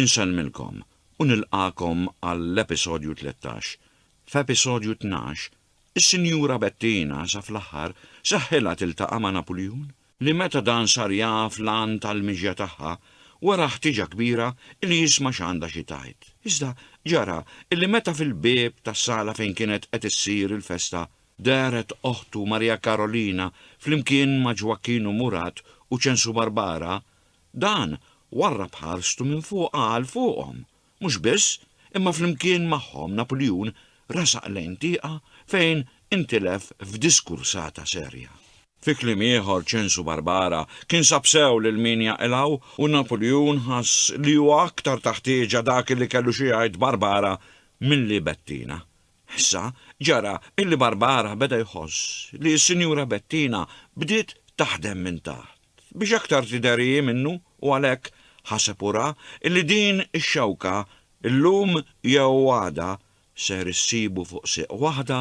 Insellmilkom u nilqagħkom għall-episodju tlettax. F'episodju tnax, is-Sinjura Bettina sa fl-aħħar seħħilha tiltaqa' ma' Napuljun, li meta dan sar jaf l-għan tal-mixja tagħha, wera ħtieġa kbira li jisma' x'għandha xi tgħid. Iżda ġara li meta fil-bieb tas-sala fejn kienet qed issir il-festa dehret oħtu Maria Karolina flimkien ma' Ġwakkin u Murat u Ċensu Barbara, Dan warrab ħarstu minn fuq għal fuqhom. Mhux biss, imma flimkien magħhom Napuljun resaq lejn tieqa fejn intilef f'diskursata serja. Fi kliem ieħor Ċensu Barbara kien sab sew lil min jaqilgħu u Napuljun ħass li hu aktar ta' ħtieġa dak li kellu xi jgħid Barbara milli Bettina. Issa ġara illi Barbara beda jħoss li s-Sinjura Bettina bdiet taħdem minn taħt. biex aktar tidher hi minnu u għalhekk, ħaseb u ra, illi din ix-xewka, illum jew għada, ser issibu fuq sieq waħda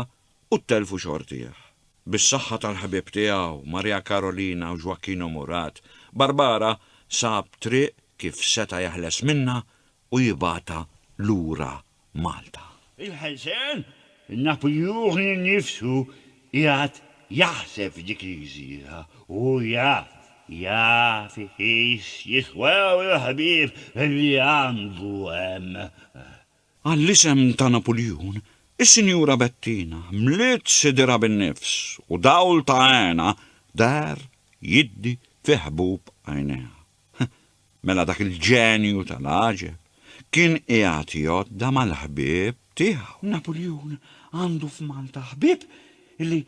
u ttelfu xortih. Bis-saħħa tal-ħbieb tiegħu, Maria Carolina u Joaquino Murat, Barbara sab triq kif seta' jeħles minnha u jibgħatha lura Malta. Il-ħelsien, naf li hu nnifsu qiegħed jaħseb f'dik il-gżira, hu jaf, jaf iqis jiswew il-ħbieb li għandu hemm. Għall-isem ta' Napuljun, is-Sinjura Bettina mliet sidirha bin-nifs u dawl ta' hena deher jiddi fi ħbub għajnejha. Mela dak il-ġenju tal-għaġeb kien qiegħed jgħodda mal-ħbieb tiegħu. Napuljun għandu f'Malta ħbieb li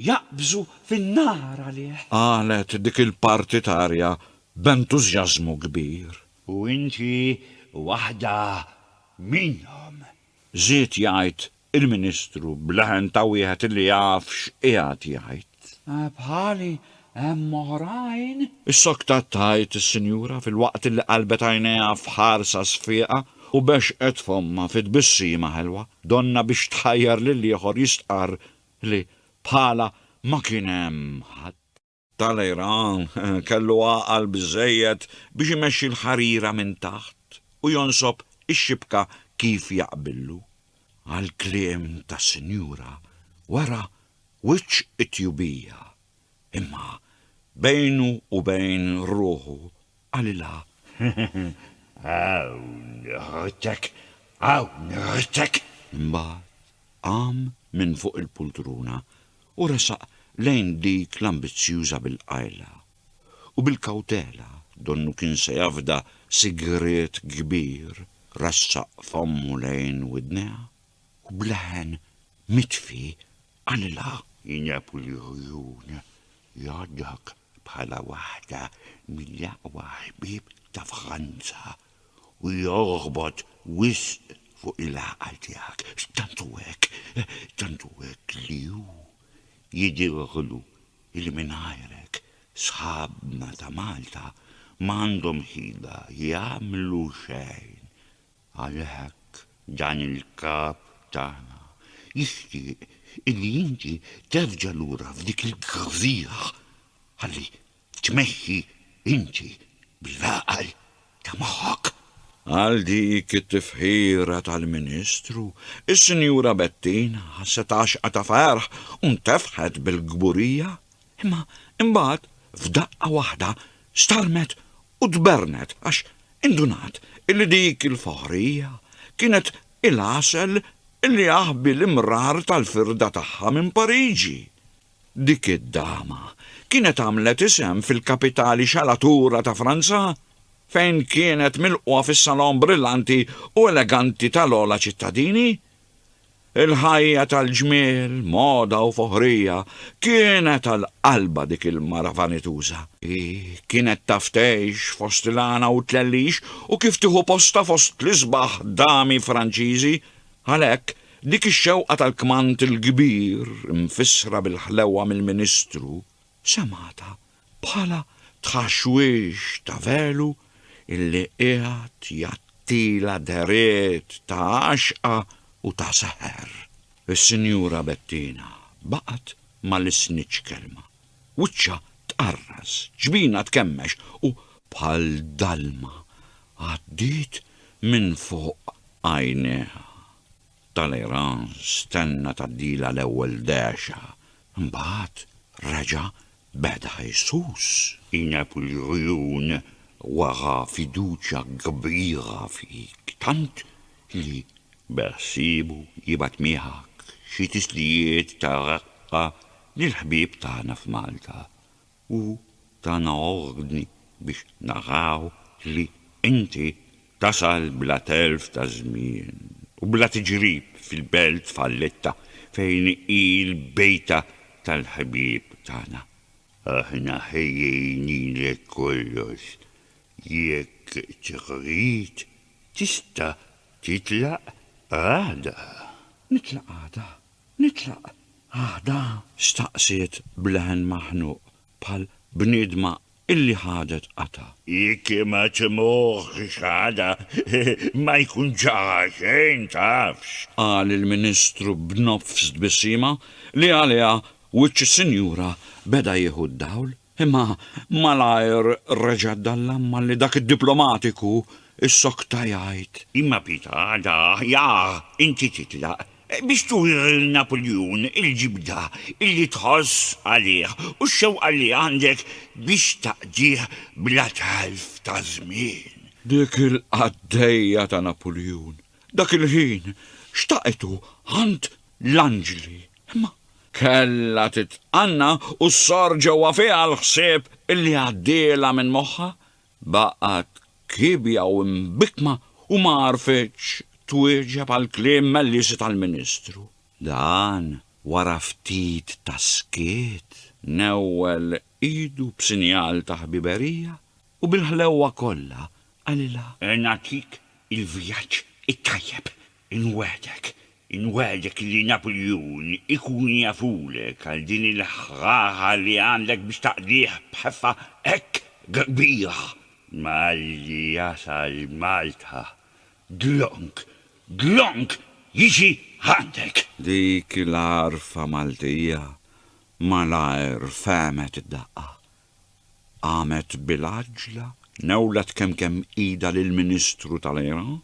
jaqbżu fin-nar għalih. Qalet dik il-partitarja b'entużjażmu kbir. U inti waħda minnhom. Żied jgħid il-Ministru b'leħen ta' wieħed li jaf x'qiegħed jgħid. Bħali hemm oħrajn. Issoktat tgħid is-sinjura filwaqt li qalbet għajnejha f'ħarsa sfieqa u bexxqet fommha fi tbissima ħelwa, donnha biex tħajjar lill-ieħor jistqarr li bħalha ma kien hemm ħadd. Talleyrand kellu għaqal biżżejjed biex imexxi l-ħarira minn taħt u jonsob ix-xibka kif jaqbillu. Għall-kliem tas-sinjura wara wiċċ it-tjubija, imma bejnu u bejn ruħu Qalilha, Hawn ħdtek, hawn ħdtek! Imbagħad qam minn fuq il-pultruna u resaq lejn dik l-ambizzjuża bil-qajla. U bil-kawtela, donnu kien se jafda sigriet kbir, ressaq fommu lejn widnejha u b'leħen mitfi qalilha. Injeb l-għjun jgħaddek. bħala waħda mill-aqwa ħbieb ta' Franza u jorbot wisq fuq il-għaqal tiegħek. Tant hu hekk, tant hu hekk li hu jidhirlu li mingħajrek sħabna ta' Malta m'għandhom ħila jagħmlu xejn. Għalhekk dan il-Kap tagħna jixtieq illi inti terġa' lura f'dik il-gżira ħalli tmexxi inti bl-għaqal ta' moħħok. Għal dik it-tifħira tal-Ministru, is-Sinjura Bettina ħasset għaxqa ta' ferħ u ntefħet bil-kburija Imma imbagħad f'daqqa waħda starmet u tbernet għax indunat illi dik il-foħrija kienet il-għasel illi jaħbi l-imrar tal-firda tagħha minn Pariġi. Dik id-dama kienet għamlet isem fil-kapitali xalatura ta' Franza fejn kienet milqugħa fis-salon brillanti u eleganti tal-ogħla ċittadini. Il-ħajja tal-ġmiel, moda u foħrija kienet għal qalbha dik il-mara vanituża. Hi kienet taf tgħix fost il-għana u t-tlellix u kif tieħu postha fost l-isbaħ dami Franċiżi. Għalhekk, dik ix-xewqa tal-kmand il-kbir, imfissra bil-ħlewwa mill-Ministru, semgħatha bħala tħaxwix ta' velu illi qiegħed jgħattilha dehriet ta' għaxqa u ta' seħer. Is-Sinjura Bettina baqgħet ma lissnitx kelma. Wiċċha tqarras, ġbinha tkemmex u bħal dalma għaddiet minn fuq għajnejha. Talleyrand stenna tgħaddilha l-ewwel dehxa, imbagħad reġa' beda jsus. Ineb il-għjun wera fiduċja kbira fik tant li beħsiebu jibgħat miegħek xi tislijiet ta' reqqa lill-ħbieb tagħna f'Malta. U tana ordni biex naraw li inti tasal bla telf ta' żmien u bla tiġrib fil-belt falletta fejn hi l-bejta tal-ħbieb tagħna. Aħna ħejjejnilek kollox. Jekk trid, tista' titlaq għada. Nitlaq għada? Nitlaq għadha? staqsiet b'leħen maħnuq bħal bniedma illi ħadet qatgħa. Jekk ma timuhx għadha, ma jkun ġara xejn, tafx. Qal il-Ministru b'nofs tbissima li għaliha wiċċ is-sinjura beda jieħu d-dawl. Imma malajr reġa' dallamma li dak id-diplomatiku issokta jgħid. Imma Pita għada aħjar inti titlaq biex turi lil Napuljun il-ġibda li tħoss għalih u x-xewqa li għandek biex taqdih bla telf ta' żmien. Dik il-qaddejja ta' Napuljun dak il-ħin xtaqetu għand l-anġli, imma kellha titqanna u ssor ġewwa fiha l-ħsieb li għaddielha minn moħħha, baqgħet kiebja u mbikkma u ma għarfitx twieġeb għall-kliem mellieżi tal-Ministru. Dan, wara ftit ta' skiet, newwel idu b'sinjal ta' ħbiberija u bil-ħlewwa kollha qalilha. Nagħtik il-vjaġġ it-tajjeb, Inwegħdek, inwegħdek li Napuljun ikun jafulek għal din il-ħħaħa li għandek biex taqdih b'ħeffa hekk kbira! Malli jasal Malta, dlonk, dlonk jiġi għandek! Dik l-għarfa Maltija malajr fehmet id-daqqa. qamet bil-għaġġla, newlet kemkemm idha lill-Ministru tal-Iran,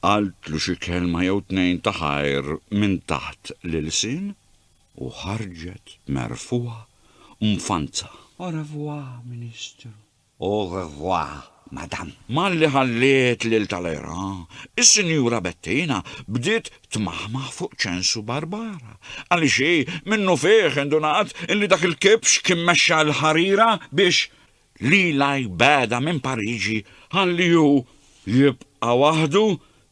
qaltlu xi kelma jew tnejn ta' ħajr minn taħt l-ilsien u ħarġet merfugħa u mfanza. Au revoir, Ministru. Au revoir, Madam. Malli ħalliet lil Talleyrand, is-Sinjura Bettina bdiet tmaħmaħ fuq ċensu barbara, għaliex hi minnufih indunat li dak il-kibx kien mexxa l-ħarira biex lilha jbegħdha minn Pariġi ħalli hu jibqa' waħdu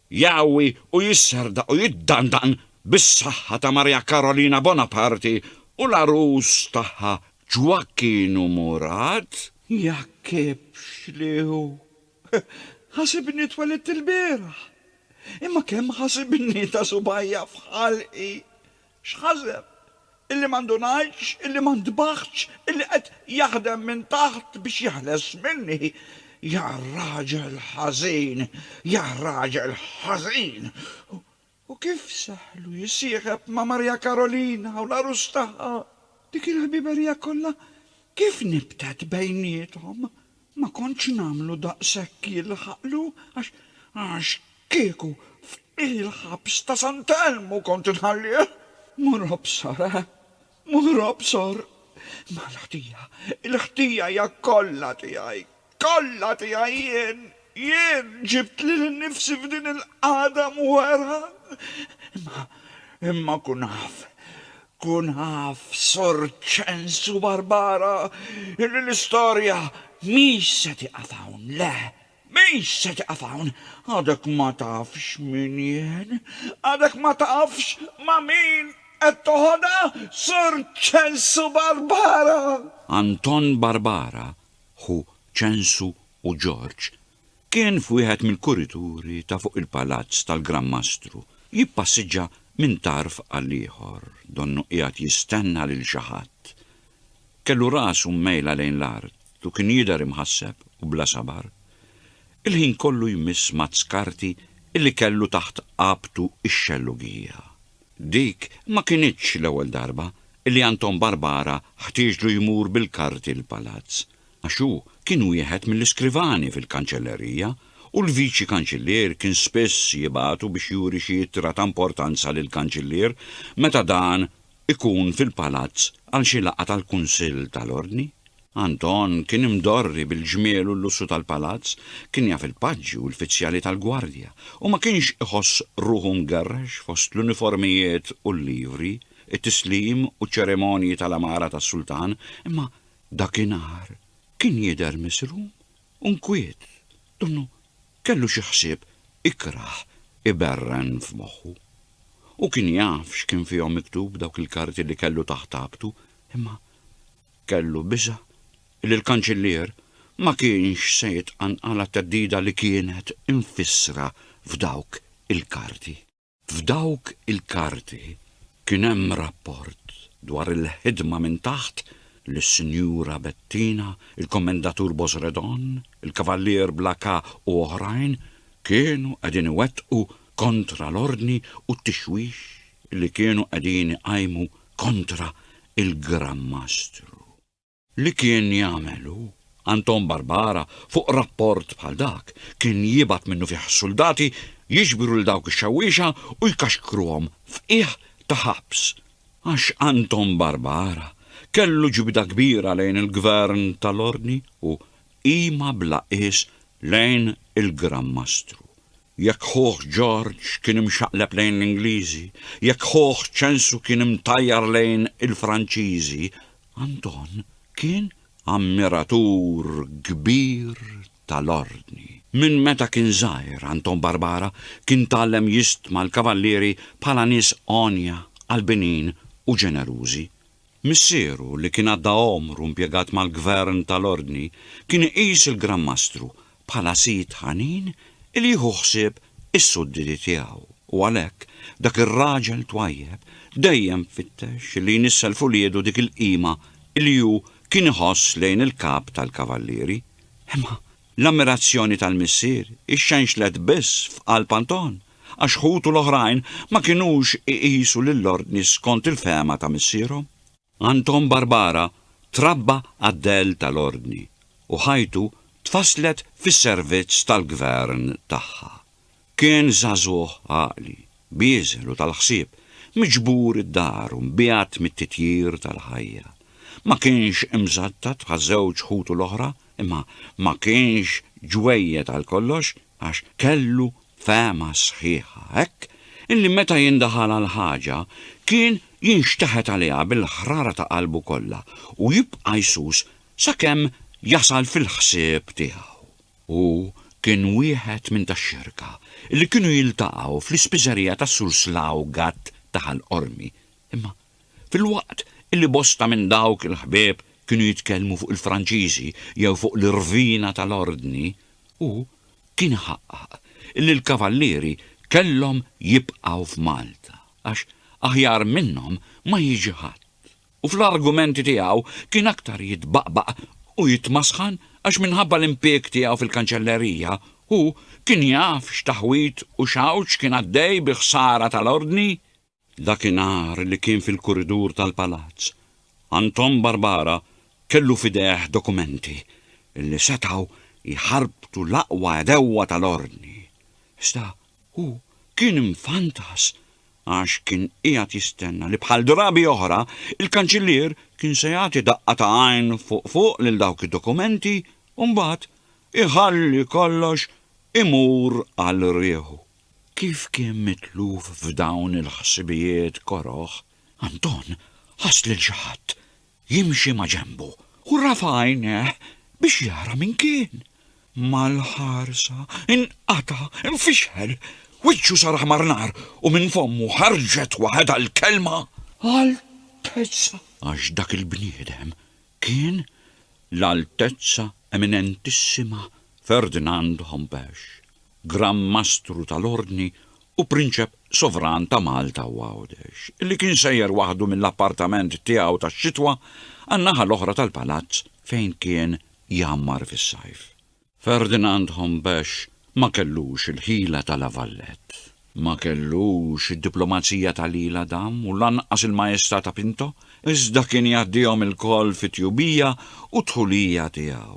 jgħawwi u jisserdaq u jiddandaqn bis-saħħa ta' Marija Karolina Bonaparti u l-għarus tagħha Ġwakkinu Murad. Hija kibx li hu Ħasibni twelidt ilbieraħ, imma kemm ħasibni ta' subgħajja f'ħalqi! X'ħaseb? Illi ma ndunajtx, illi ma ntbaħtx, illi qed jaħdem minn taħt biex jeħles minni? Ja raġel ħażin! Ja raġel ħażin! U kif seħħlu jissieħeb ma' Maria Karolina u l-għarus tagħha! Dik il-ħbiberija kollha kif nibtet bejniethom! Ma kontx nagħmlu daqshekk jilħaqlu għax għax kieku f'il-ħabs ta' Sant'Elmu kont inħallih! Mur obsor, eh! Moħrob sor, mal-ħtija, il-ħtija hija kollha tiegħi, kollha tiegħi jien, jien ġibt lili nnifsi f'din il-qagħda mwerwra. Imma, imma kun af, kun af, Sur Ċensu Barbara, illi l-istorja mhix se tieqaf hawn, le, Min se jieqaf hawn? Għadek ma tafx min jien? Għadek ma tafx ma' min qed toħodha, Sur Ċensu Barbara? Anton Barbara, ħu Ċensu u Ġorġ, kien f'wieħed mill-kurituri ta' fuq il-palazz tal-Gran Mastru, jippassiġġa minn tarf għall-ieħor, donnu qiegħed jistenna lil xi ħadd. Kellu rasu mmejla lejn l-art u kien jidher imħasseb u bla sabar. Il-ħin kollu jmiss mazz karti illi kellu taħt qabtu x-xellugija. Dik ma kinitx l-ewwel darba illi Anton Barbara ħtieġlu jmur bil-karti l-palazz, għax hu kien wieħed mill-iskrivani fil-kanċellerija u l-viċi kanċillier kien spiss jibagħtu biex juri xi ittra ta' importanza lill-kanċillier meta dan ikun fil-palazz għal xi laqgħa tal-Kunsill tal-Ordni. Anton kien imdorri bil-ġmiel u l-lussu tal-palazz, kien jaf il-paġi u l-fizzjali tal-gwardja, u ma kienx iħoss ruħu mgerrex fost l-uniformijiet u l-livri, it-tislim u ċ-ċeremonji tal-għamara tas-sultan, imma dakinhar kien jidher misrum u nkwiet, donnu Kellu xi ħsieb ikrah iberren f'moħħu. Hu kien jaf x'kien fihom miktub dawk il-karti li kellu taħt ħabtu, imma kellu biża' li l-Kanċillier ma kienx se jitqanqal għat-theddida li kienet imfissra f'dawk il-karti. F'dawk il-karti kien hemm rapport dwar il-ħidma minn taħt li Sinjura Bettina, il-Kommendatur Bosredon, il-Kavallier Blacà u oħrajn kienu qegħdin iwettqu kontra l-ordni u t-tixwix li kienu qegħdin iqajmu kontra il-Gran Mastru. Li kien jagħmel hu, Anton Barbara, fuq rapport bħal dak, kien jibgħat minnufih suldati jiġbru lil dawk ix-xewwiexa u jkaxkruhom f'qiegħ ta' ħabs. Għax Anton Barbara kellu ġibda kbira lejn il-Gvern tal-Ordni u qima bla qies lejn il-Gran Mastru. Jekk ħuh Ġorġ kien imxaqleb lejn l-Ingliżi, jekk ħuh Ċensu kien imtajjar lejn il-Franċiżi, Anton kien ammiratur kbir tal-Ordni. Minn meta kien żgħir Anton Barbara kien tgħallem jistma l-Kavallieri bħala nies għonja, qalbinin u ġenerużi. Missieru li kien għadda għomru impjegat mal-Gvern tal-Ordni kien iqis il-Gran Mastru bħala sid ħanin li jieħu ħsieb is-sudditi tiegħu, u għalhekk dak ir-raġel twajjeb dejjem fittex li jnissel f'uliedu dik il-qima li hu kien iħoss lejn il-kap tal-kavallieri. Imma l-ammirazzjoni tal-missier ixxenxlet biss f'qalb Anton, għax ħutu l-oħrajn ma kinux iqisu lill-ordni skont il-fehma ta' missierhom. Anton Barbara trabba għad-dell tal-Ordni u ħajtu tfasslet fis-servizz tal-Gvern tagħha. Kien żagħżugħ għaqli, bieżel u tal-ħsieb, miġbur id-dar u mbiegħed mit-titjir tal-ħajja. Ma kienx imżattat bħaż-żewġ ħutu l-oħra, imma ma kienx ġwejjed għal kollox. għax kellu fehma sħiħa hekk illi meta jindaħal għal ħaġa kien jinxteħet għaliha bil-ħrara ta' qalbu kollha u jibqa' jsus sakemm jasal fil-ħsieb tiegħu. Hu kien wieħed minn tax-xerka illi kienu jiltaqgħu fl-ispiżerija tas-Sur Slawgat ta' Ħal Qormi, imma Filwaqt li bosta minn dawk il-ħbieb kienu jitkellmu fuq il-Franċiżi jew fuq l-irvina tal-Ordni, hu kien iħaqqaq li l-Kavallieri kellhom jibqgħu f'Malta għax aħjar minnhom ma jiġi ħadd u fl-argumenti tiegħu kien aktar jitbaqbaq u jitmasħan għax minħabba l-impieg tiegħu fil-Kanċellerija hu kien jaf x'taħwid u x'għawġ kien għaddej bi ħsara tal-Ordni Dakinhar li kien fil-kuridur tal-palazz, Anton Barbara kellu f'idejh dokumenti li setgħu jħarbtu l-aqwa għedewwa tal-Ordni. Iżda hu kien imfantas għax kien qiegħed jistenna li bħal drabi oħra il-Kanċillier kien se jagħti daqqa ta' għajn fuq fuq lil dawk id-dokumenti u mbagħad iħalli kollox imur għal rieħu. Kif kien mitluf f'dawn il-ħsibijiet koroh, Anton ħass lil xi ħadd jimxi maġenbu u rafa' għajnejh biex jara min kien. Mal-ħarsa nqata', infixħel, wiċċu sar aħmar nar u minn fommu ħarġet waħedha l-kelma, Altezza! Għax dak il-bniedem kien l-Altezza Eminentissima Ferdinand Hompesch, Gran Mastru tal-Ordni u Prinċep Sovran ta' Malta u Għawdex, li kien sejjer waħdu mill-appartament tiegħu tax-xitwa għan-naħa l-oħra tal-palazz fejn kien jgħammar fis-sajf. Ferdinand Hombesch ma kellux il-ħila ta' La Valette. Ma kellux id-diplomazija ta' L'Isle Adam u lanqas il-maestà ta' Pinto, iżda kien jgħaddihom ilkoll fit-tjubija u t-dħulija tiegħu.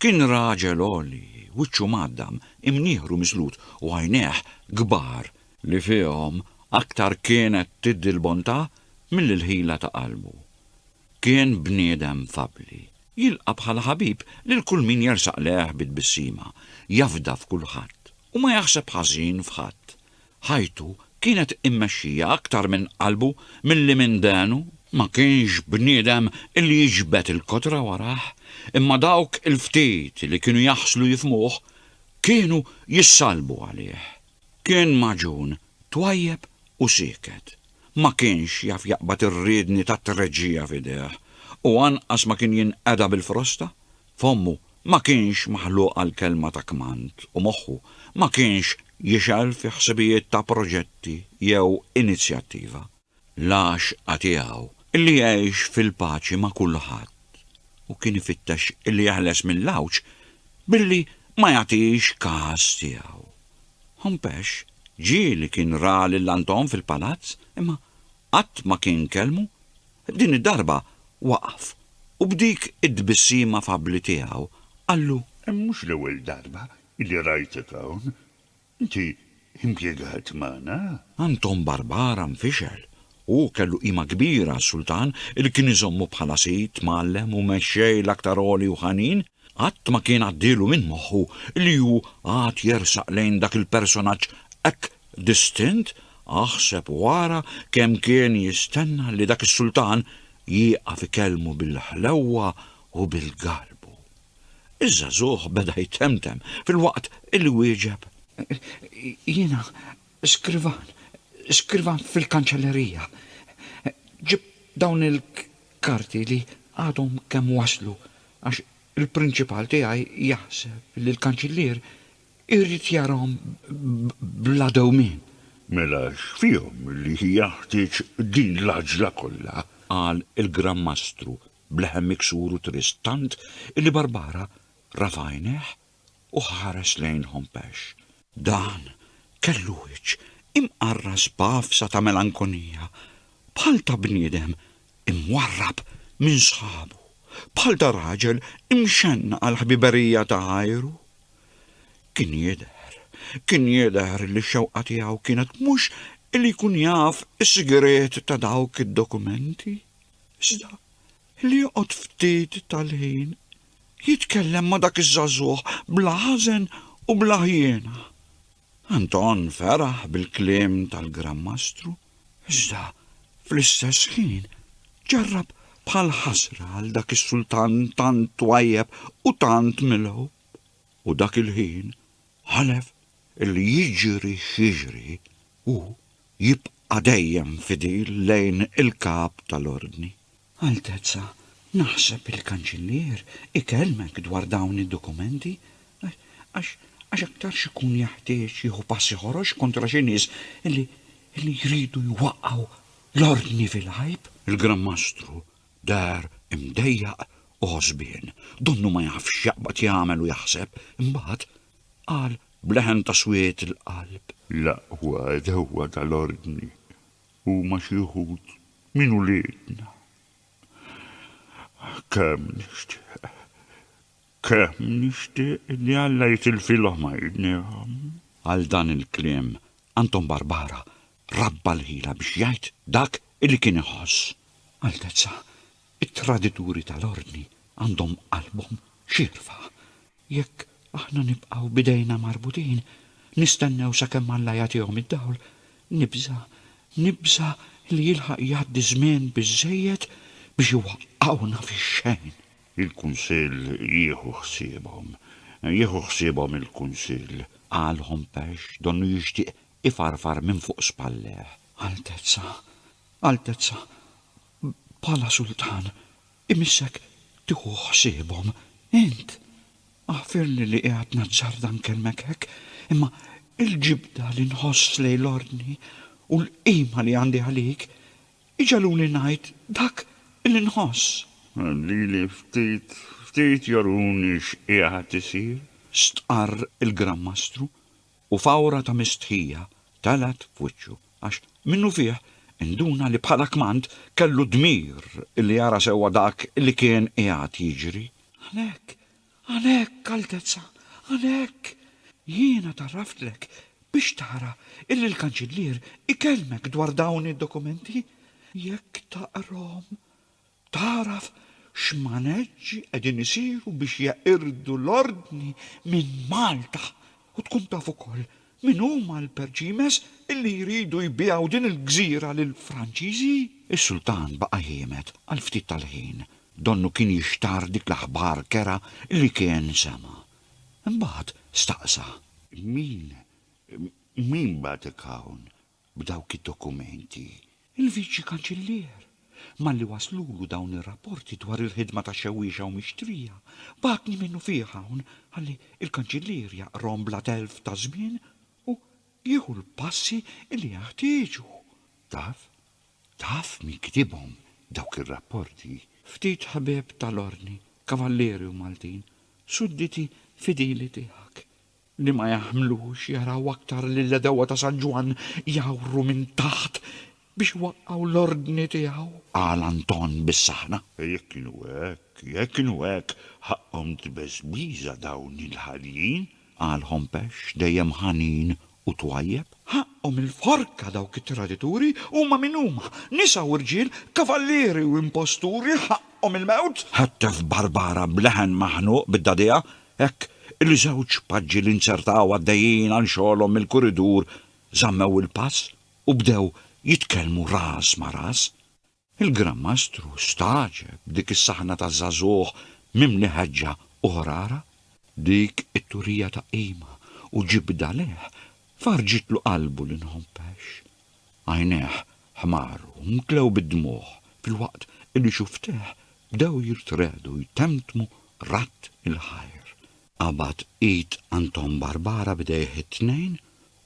Kien raġel għoli, wiċċu mgħaddam, imnieħru miżlut u għajnejh kbar li fihom aktar kienet tiddi l-bontà milli l-ħila ta' qalbu. Kien bniedem fabbli, jilqa' bħala ħabib lil kull min jersaq lejh bi tbissima, jafda f'kulħadd, u ma jaħseb ħażin f'ħadd. Ħajtu kienet immexxija aktar minn qalbu milli minn dehnu. Ma kienx bniedem li jiġbed il-kodra warajh, imma dawk il-ftit li kienu jaħslu jifhmuh, kienu jissallbu għalih. Kien magħġun, twajjeb u sieket. Ma kienx jaf jaqbad ir-riedni tat-treġġija f'idejh, u anqas ma kien jinqeda bil-frosta. Fommu ma kienx maħluq għal kelma ta' kmand u moħħu ma kienx jixgħel fi ħsibijiet ta' proġetti jew inizjattiva. l-għaxqa tiegħu, li jgħix fil-paċi ma' kulħadd, u kien ifittex li jeħles mill-għawġ billi ma jagħtix kas tiegħu. Hompex ġieli kien ra lil Anton fil-palazz, imma qatt ma kien kellmu, din id-darba waqaf u b'dik it-tbissima fabbli tiegħu qallu, Mhux l-ewwel darba li rajtek hawn, Inti impjegat magħna? Anton Barbara nfixel. Hu kellu qima kbira għas-sultan li kien iżommu bħala sid, mgħallem u mexxej l-aktar għoli u ħanin. Qatt ma kien għaddielu minn moħħu li hu għad jersaq lejn dak il-personaġġ hekk distint, aħseb u ara kemm kien jistenna li dak is-sultan jieqaf ikellmu bil-ħlewwa u bil-garbu. Iż-żagħżugħ beda jtemtem filwaqt li wieġeb. Jiena skrivan, skrivan fil-kanċellerija. Ġibt dawn il-karti li għadhom kemm waslu għax il-prinċipal tiegħi jaħseb li l-kanċillier irid jarahom bla dewmien. Mela x'fihom li jeħtieġ din l-għaġla kollha? qal il-Gran Mastru b'leħen miksur u trist tant illi Barbara rafa' għajnejh u ħares lejn Hompesch. Dan kellu wiċċ imqarras b'għafsa ta' melankonija, bħal ta' bniedem imwarrab minn sħabu, bħal ta' raġel imxennaq għall-ħbiberija ta' ħajru. Kien jidher, kien jidher illi x-xewqa tiegħu kienet mhux illi jkun jaf is-sigriet ta' dawk id-dokumenti. Iżda li joqgħod ftit tal-ħin jitkellem ma' dak iż-żagħżugħ bla ħażen u bla ħjiena. Anton feraħ bil-kliem tal-Gran Mastru, iżda fl-istess ħin ġarrab bħal ħasra għal dak is-sultan tant twajjeb u tant milgħub, u dak il-ħin ħalef illi jiġri x'jiġri hu jibqa' Qa' dejjem fidil lejn il-Kap tal-Ordni. Altezza, naħseb il-Kanċillier ikellmek dwar dawn id-dokumenti, għax għax aktarx ikun jeħtieġ jieħu passi ħorox kontra xi nies li li jridu jwaqqgħu l-Ordni fil-għajb. Il-Gran Mastru deher imdejjaq u għożbien. Donnu ma jafx x'jaqbad jagħmel u jaħseb. Imbagħad, qal b'leħen ta' swied il-qalb. L-aqwa għedewwa tal-Ordni huma xi wħud minn uliedna. Kemm nixtieq, kemm nixtieq li Alla jitilfilhom għajnejhom! Għal dan il-kliem, Anton Barbara rabba l-ħila biex jgħid dak li kien iħoss. Altezza, It-tradituri tal-Ordni għandhom qalbhom xierfa. Jekk aħna nibqgħu b'idejna marbutin, nistennew sakemm Alla jagħtihom id-dawl, nibża', nibża' li jilħaq jgħaddi żmien biżżejjed biex iwaqqgħuna fix-xejn. Il-Kunsill jieħu ħsiebhom. Jieħu ħsiebhom il-Kunsill. Qalhom Pesh, donnu jixtieq ifarfar minn fuq spallejh. Altezza, Altezza, bħala sultan, imissek tieħu ħsiebhom. Int, aħfirli li qiegħed nazzarda nkellmek hekk, imma l-ġibda li nħoss lejn l-Ordni u l-qima li għandi għalik iġegħluni ngħid dak li nħoss. Lili ftit ftit juruni x'qiegħed isir. Stqarr il-Gran Mastru, u fawra ta' mistħija telgħet f'wiċċu għax, minnufih, induna li bħala kmand kellu d-dmir li jara sewwa dak li kien qiegħed jiġri. Hawnhekk, hawnhekk, Altezza, hawnhekk! Jiena tgħarraftlek biex tara illi l-Kanċillier ikellmek dwar dawn id-dokumenti. Jekk taqrahom, Tagħraf x'maneġġi qegħdin isiru biex jeqirdu l-ordni minn Malta u tkun taf ukoll min huma l-perċimes illi jridu jbigħu din il-gżira lill-Franċiżi? Is-Sultan baqa' jiemed għal ftit tal-ħin, donnu kien jixtarr dik l-aħbar kerha li kien sema'. Imbagħad staqsa. Min, min bagħatek hawn? B'dawk id-dokumenti, il-Viċi Kanċillier, malli waslulu dawn ir-rapporti dwar il-ħidma ta' xewwiexa u mixtrija, bagħatni minnufih hawn ħalli l-Kanċillier jaqrahom bla telf ta' żmien u jieħu l-passi li jeħtieġu. Taf? Taf min kitibhom dawk ir-rapporti? Ftit ħbieb tal-Ordni, Kavallieri u Maltin, sudditi fidili tiegħek. li ma jagħmlux jaraw aktar lill-għedewwa ta' San Ġwann jgħawru minn taħt biex iwaqqgħu l-ordni tiegħu, qal Anton bis-saħna. Jekk kienu hekk, jekk kienu hekk, ħaqqhom tbeżbiża dawn il-ħaljin, qal Hompex, dejjem ħanin u twajjeb. Ħaqqhom il-forka dawk it-tradituri, huma min huma, nisa u rġiel, kavallieri u imposturi, ħaqqhom il-mewt! Ħettef Barbara b'leħen maħnuq bid-dagħdigħa, Hekk, il-żewġ paġġi li nzertaw għaddejjin għal xogħolhom mill-kuridur żammew il-pass u bdew jitkellmu ras ma' ras. Il-Gran Mastru stagħġeb b'dik is-saħna ta' żagħżugħ mimli ħeġġa u ħrara. Dik it-turija ta' qima u ġibda leh farrġitlu qalbu li nħobbhex. Għajnejh ħmaru u mtlew bid-dmugħ filwaqt li xufftejh bdew jirtregħdu jtemmtmu radd il-ħajr. Qabad id Anton Barbara b'idejh it-tnejn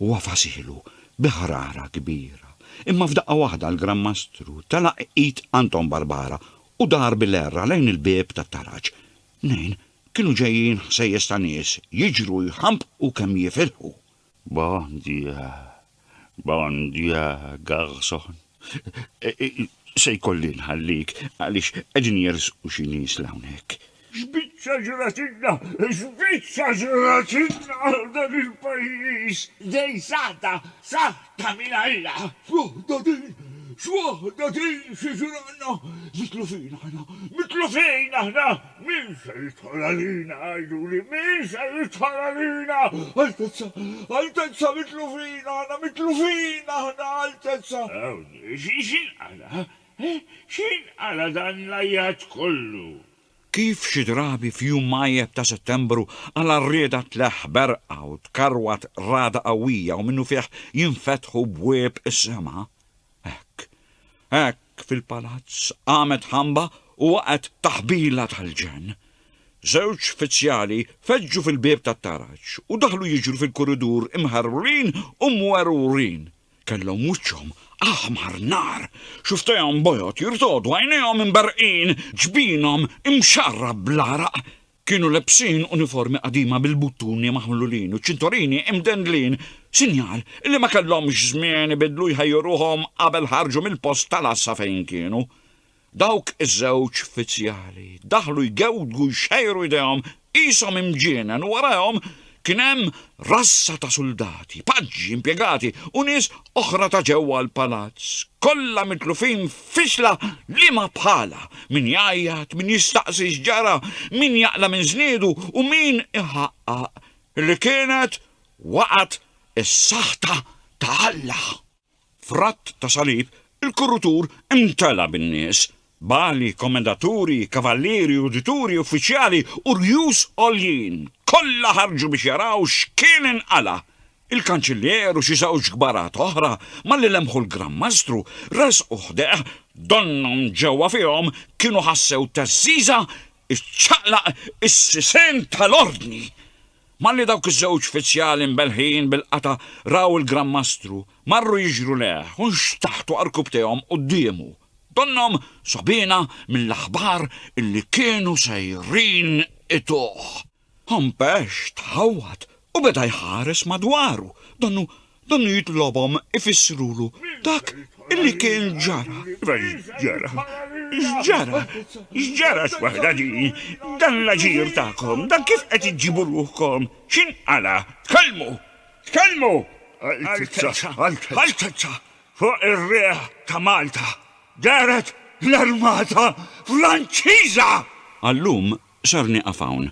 u għafasilu bi ħrara kbira. Imma f'daqqa waħda l-Gran Mastru telaq id Anton Barbara u dar bil-għerra lejn il-bieb tat-taraġ. Mnejn kienu ġejjin ħsejjes ta' nies jiġru jħambqu kemm jifilħu. Bon Dieu, bon Dieu, garçon, se jkolli nħallik għaliex qegħdin jersqu xi nies 'l hawnhekk. X'biċċa ġratilna, x'biċċa ġratilna għal dan il-pajjiż! Dej saħta, saħta minn Alla! X'waħda din, x'waħda din, xi ġralna! Mitlu fin aħna, mitlu fin aħna! Min se jidħol għalina, għiduli, min se jidħol għalina? Altezza, Altezza, mitlufin aħna, mitlufin aħna, Altezza! Awni, x'inqala, eh? X'inqala dan l-għajjat kollu? Kif xi drabi f'jum mgħajjeb ta' Settembru, għala rieda tleħħ berqa u tkarwat ragħda qawwija u minnufih jinfetħu bwieb is-sema? Hekk, hekk, Hekk fil-palazz qamet ħamba u waqgħet taħbila tal-ġenn. Żewġ fizzjali feġġu fil-bieb tat-taraġ u daħlu jiġru fil-kuridur imħerwrin u mwerwrin. Kellhom wiċċhom aħmar nar, xufftejhom bojod jirtogħdu, għajnejhom imberrqin, ġbinhom imxarrab bl-għaraq. Kienu lebsin uniformi qadima bil-buttuni maħlulin u ċintorini imdendlin, sinjal li ma kellhomx żmien ibiddlu jħejju ruħhom qabel ħarġu mill-post tal-għassa fejn kienu. Dawk iż-żewġ uffizzjali daħlu jgewdgu jxejru jdejhom qishom imġienen u warajhom Kien hemm rassa ta' suldati, paġġi, impjegati u nies oħra ta' ġewwa l-palazz, kollha mitlufin f'fixla liema bħalha, min jgħajjat, min jistaqsi x'ġara, min jaqla' minn żniedu u min iħaqqaq li kienet waqgħet is-saħta ta' Alla. F'radd ta' salib, il-kurutur imtela' bin-nies, bali, komendaturi, kavallieri, udituri, uffiċjali u rjus għoljin, kollha ħarġu biex jaraw x'kien inqala'. Il-kanċillier u xi żewġ kbarat oħra, malli lemħu l-Gran Mastru, resqu ħdejh, donnhom ġewwa fihom kienu ħassew theżżiża iċċaqlaq is-sisien tal-Ordni. Malli dawk iż-żewġ uffiċjali mbelħin bil-qata' raw il-Gran Mastru, marru jiġru lejh u nxtaħtu għarkupptejhom quddiemu. Donnhom sogħbina mill-aħbar illi kienu sejrin ituh. Hompex tħawwad u beda jħares madwaru, donnu Dan jitlobhom ifissrulu dak li kien ġara. Iva x'ġara? X'ġara? X'ġara x'waħda din? Dan l-aġir tagħkom, dan kif qed iġġibu ruħkom? X'inqala'? Tkellmu! Tkellmu! Altezza, Altezza, fuq ir-riħ ta' Malta dehret l-armata Franċiża! Għal-lum ser nieqaf hawn.